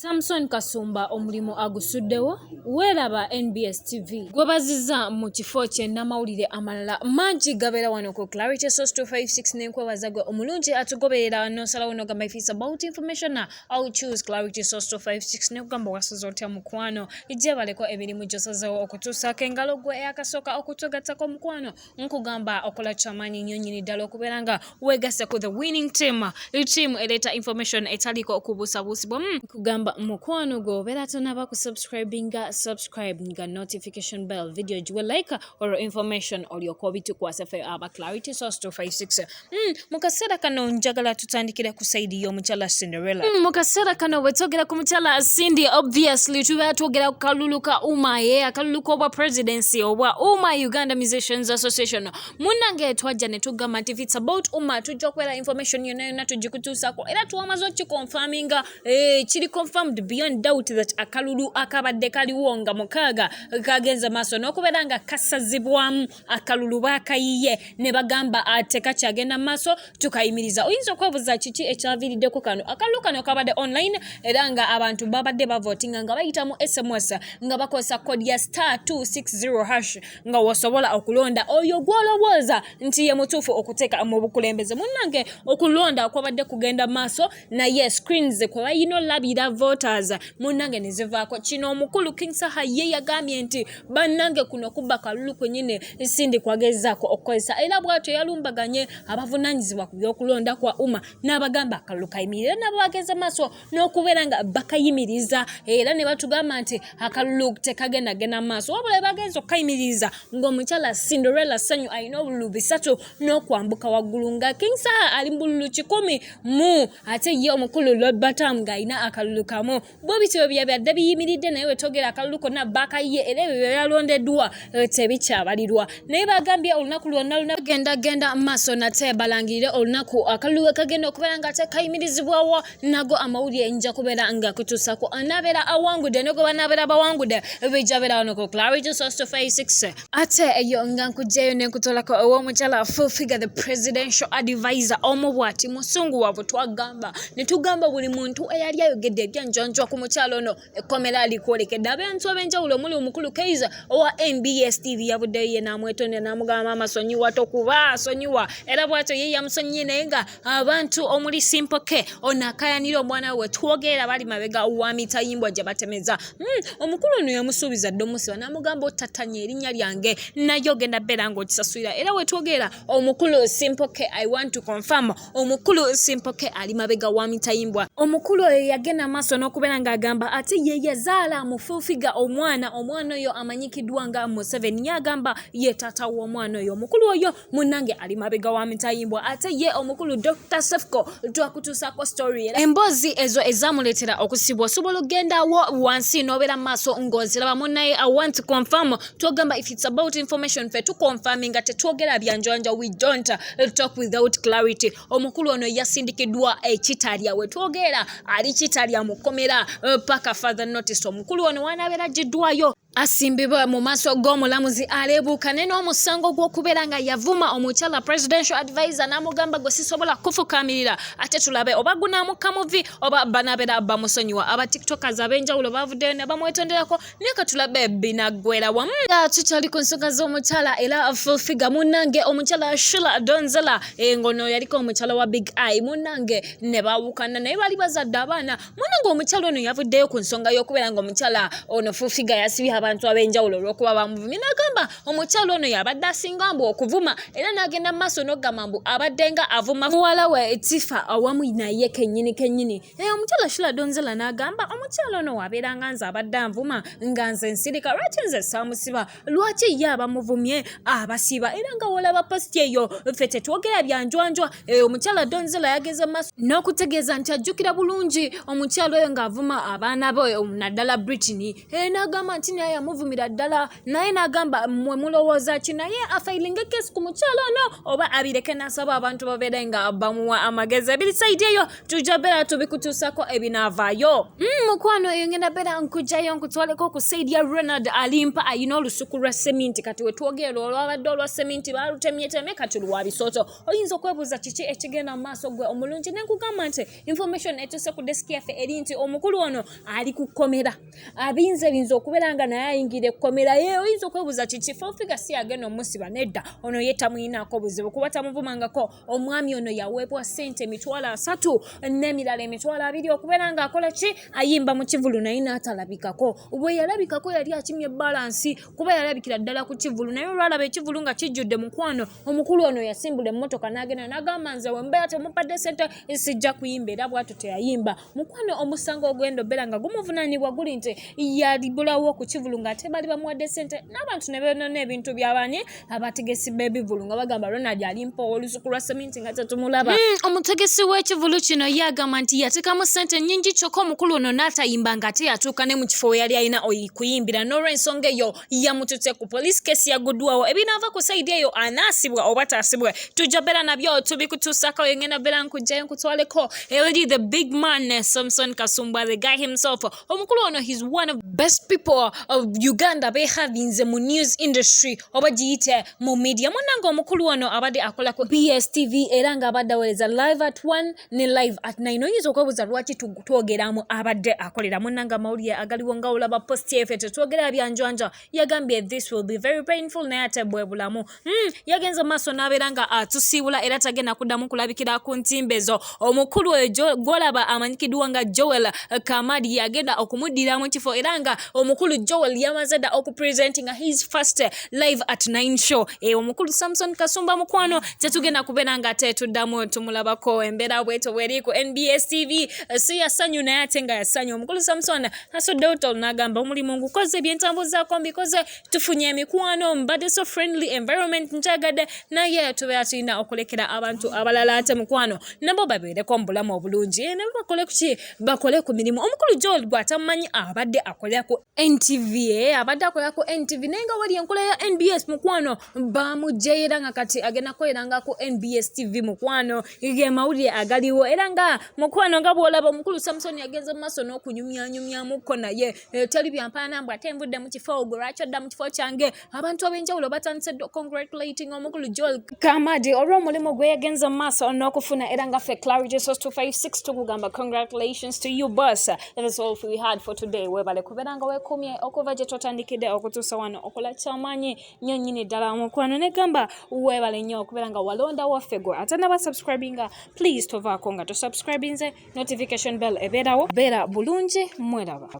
Samson Kasumba omulimu agusuddewo weeraba nbs tv gwebaziza mu kifo kye n'amawulire amalala mangi gabeera wano ku clarity source 256 nenkwebaza gwe omulungi atugoberera nosalawo nogamba if it's about information au choose clarity source 256 nekugamba wasaza otya mukwano ijebaleko emirimu gyosazewo okutuusaako engalo gwe eyakasooka okutugattako omukwano nkugamba okola kyamanyi nnyo nyini ddala okubeera nga weegasse ku the winning team team eleeta information etaliiko okubuusabuusibwa hmm, nkugamba mukwano gwe obeera tonaba ku subscribinga subscribe nga notification bell video giwe like or information olyoka obitukwasa fe aba clarity source 256 Mm, mu kaseera kano njagala tutandikire ku saidi y'omukyala cinderella mm, mu kaseera kano bwe twogera ku mukyala cindy obviously tubeera twogera ku kalulu ka uma ye akalulu k'obwa presidency obwa uma uganda musicians association munnange twajja ne tugamba nti it's about uma tujja okubeera information yonna yonna tugikutuusako era twamaze okikonfaminga eh, kiri confirmed beyond doubt that akalulu akabadde kaliwo nga mukaaga kagenze maaso n'okubeera nga kasazibwamu akalulu baakayiye ne bagamba ah, tekakyagenda mu maaso tukayimiriza oyinza okwebuuza kiki ekyaviiriddeko kano akalulu kano kabadde online era nga abantu babadde bavotinga nga bayita mu sms nga bakozesa kodi ya star 260 hash nga wosobola okulonda oyo gwolowooza nti ye mutuufu okuteeka mu bukulembeze munnange okulonda kwabadde kugenda maaso naye screens kwe balina olabira voters munange nezivaako kino omukulu king saha ye yagambye nti bannange kuno kubba kalulu kwenyini sindi kwagezaako okukozesa era bwatyo yalumbaganye abavunanyizibwa ku byokulonda kwa uma n'abagamba akalulu kayimirire nabo bageze maaso n'okubeera nga bakayimiriza era ne batugamba nti akalulu tekagenda genda maaso wabula bagenza okukayimiriza ng'omukyala cinderella sanyu alina obululu bisatu n'okwambuka waggulu nga king saha ali mu bululu kikumi mu ate ye omukulu lobatamu ng'alina akalulu kamu bo bityo bya byadde biyimiridde naye wetogera akalulu konna bakayiye era ebyo byeyalondeddwa eh, tebikyabalirwa naye bagambye olunaku lwonna luna genda genda maaso nate balangirire olunaku akalulu we kagenda okubeera nga ate kayimirizibwawo nago amawulire nja kubeera nga kutuusako anaabeera awangudde ne gwe banaabeera bawangudde bijja beera wano ku clarity sosto 56 ate eyo nga nkugjayo nekutolako owomukyala full figure the presidential advisor omu bwati musungu wabwe twagamba netugamba buli muntu eyali ayogedde ebyanjanjwa ku mukyala ono ekkomera alikwolekedde abantu abenjawulo omuli omukulu kaiza owa nbs tv yabuddeyo ye namwetonda namugamba masonyiwa tokuba sonyiwa era bwatyo ye yamusonyiye naye nga abantu omuli simpoke ono akayanira omwana we twogeera bali mabega wa mitayimbwa gye batemeza hmm, omukulu ono yamusuubiza dde omusiba namugamba otatanya erinnya lyange naye ogenda beera ngaokisasulira era wetwogeera omukulu simpoke i want to confirm omukulu simpoke ali mabega wa mitayimbwa omukulu oyo yagenda maaso n'okubeera ng'agamba ate ye yazaala mufufiga omwana omwana oyo amanyikiddwa nga museveni yagamba ye taata w'omwana oyo omukulu oyo munange ali mabega wa mitayimbwa ate ye omukulu dr sefco twakutuusako story era emboozi ezo ezamuleetera okusibwa osobola okugendawo wansi n'obeera mu maaso ng'oziraba munaye i want to confirm twogamba if it's about information fe tuconfirmi nga tetwogera byanjanja we don't talk without clarity omukulu ono yasindikiddwa ekitalya we twogera ali kitalya mu kkomera paka father notice omukulu ono wanabeera giddwayo asimbibwa mu maaso g'omulamuzi aleebuukane n'omusango gw'okubeera nga yavuma omukyala presidential advisor n'amugamba gwe sisobola kufukaamirira ate tulabe oba gunaamuka muvi oba banabeera bamusonyiwa aba tiktokers ab'enjawulo baavuddeyo ne bamwetonderako naye ka tulabe binaggwera wamu tukyali ku nsonga z'omukyala era full figure munnange omukyala shula donzela engono eh, yaliko omukyala wa big eye munnange ne baawukana naye baali bazadde abaana mwanange omukyala ono yavuddeyo ku nsonga y'okubeera nga omukyala ono fufiga yasibye abantu ab'enjawulo olw'okuba bamuvumye n'agamba omukyala ono yabadde asinga mbu okuvuma era n'agenda mu maaso n'okugamba mbu abadde nga avuma muwala we tifa awamu naye kennyini kennyini eyo omukyala shula donzela n'agamba omukyala ono wabeera nga nze abadde anvuma nga nze nsirika lwaki nze saamusiba lwaki ye abamuvumye abasiba era nga wolaba positi eyo ffe tetwogera byanjwanjwa eh, omukyala donzela yageze maaso n'okutegeeza nti ajjukira bulungi omukyala oyo ng'avuma abaana be eh, naddala britini eh, n'agamba nti naye yamuvumira ddala naye n'agamba mwe mulowooza ki naye afailinga ekesi ku mukyala ono oba abireke n'asaba abantu babeere nga bamuwa amagezi ebiri saidi eyo tujja beera tubikutuusako ebinaavaayo mm, mukwano eyo ngenda beera nkugjayo nkutwaleko ku saidi ya ronald alimpa ayina olusuku lwa seminti kati wetwogerera olwabadde olwa seminti balutemyetemye kati luwa bisooto oyinza okwebuuza kiki ekigenda mu maaso gwe omulungi nenkugamba nti information etuuse ku desiki yaffe eri nti omukulu ono ali ku kkomera abinza ebinza okubeera nga naye ayingira ekkomera ye oyinza okwebuuza kiki fofiga si yagenda omusiba nedda ono ye tamuyinaako buzibu kuba tamuvumangako omwami ono yaweebwa sente emitwalo asatu n'emirala emitwalo abiri okubeera ng'akola ki ayimba mu kivulu naye n'atalabikako bwe yalabikako yali akimye balansi kuba yalabikira ddala ku kivulu naye olwalaba ekivulu nga kijjudde mukwano omukulu ono yasimbula emmotoka n'agenda n'agamba nze wembeera temupadde sente sijja kuyimba era bwatu teyayimba Mukwano omusango ogwenda obeera nga gumuvunanibwa guli nti yalibulawo okukivulu nga ate bali bamuwadde sente n'abantu ne benona ebintu byabanye abategesi b'ebivulu nga bagamba ronald alimpa olusuku lwa seminti nga tetumulaba hmm, omutegesi w'ekivulu kino ye agamba nti yatekamu sente nyingi kyokka omukulu ono n'atayimba nga ate yatuuka ne mu kifo we yali alina kuyimbira n'olwensonga eyo yamututte ku poliisi kesi yaguddwawo ebinaava ku saidi eyo anaasibwa oba taasibwa tujja beera nabyo tubikutuusako engenda beera nkujjayo nkutwaleko eri the big man samson kasumbwa the guy himself omukulu ono his one of best people of uganda behavinze mu news industry oba giyite mu media munange omukulu ono abadde akola ku bstv era nga abadde awereza live at one ne live at nine oyinza okwebuuza lwaki twogeramu abadde akolera munanga amawulire agaliwo nga olaba posti efe tetwogera byanjwanja yagambye this will be very painful naye ate bwe bulamu mm, yagenze mu maaso n'abeera nga atusiibula era tagenda kuddamu kulabikira ku ntimbe zo omukulu oyo gwolaba amanyikiddwa nga joel kamadi yagenda okumuddira mu kifo era nga omukulu joel yamaze dda okupresenti nga his first live at 9 show e omukulu samson kasumba mukwano tetugenda kubeera nga ate tuddamu tumulabako embeera bweto bweri ku nbs tv eh, si yasanyu naye ate nga yasanyu omukulu samson asudde otol n'agamba omulimu ngukoze byentambuzaako mbikoze tufunye emikwano mbadde so friendly environment nkyagadde naye tubeera tulina okulekera abantu abalala ate mukwano nabo babeereko mu bulamu obulungi eh, nabo bakole kuki bakole ku mirimu omukulu joel gwatamumanyi abadde akolera ku NTV eh, abadde akola ku NTV naye nga wali enkola ya NBS mukwano bamujja era nga kati agenda kukolera nga ku NBS TV mukwano ge mawulire agaliwo era nga mukwano nga bw'olaba omukulu Samsoni agenze mu maaso n'okunyumyanyumyamukko naye eh, teri byampaana mbu ate nvudde mu kifo ogwo lwaki odda mu kifo kyange abantu ab'enjawulo batandise dda congratulating omukulu joel kamadi olw'omulimu gwe yagenze mu maaso n'okufuna era nga ffe clarity sos 256 tukugamba congratulations to you boss that is all we had for today webale kubeera nga wekumye okuva gye twatandikidde okutuusa wano okola kyamanyi nyo nyini ddala omukwano negamba webale nnyo okubeera nga walonda waffe gwe ate naba subscribinga please tovaako nga tosubscribinze notification bell ebeerawo beera bulungi mweraba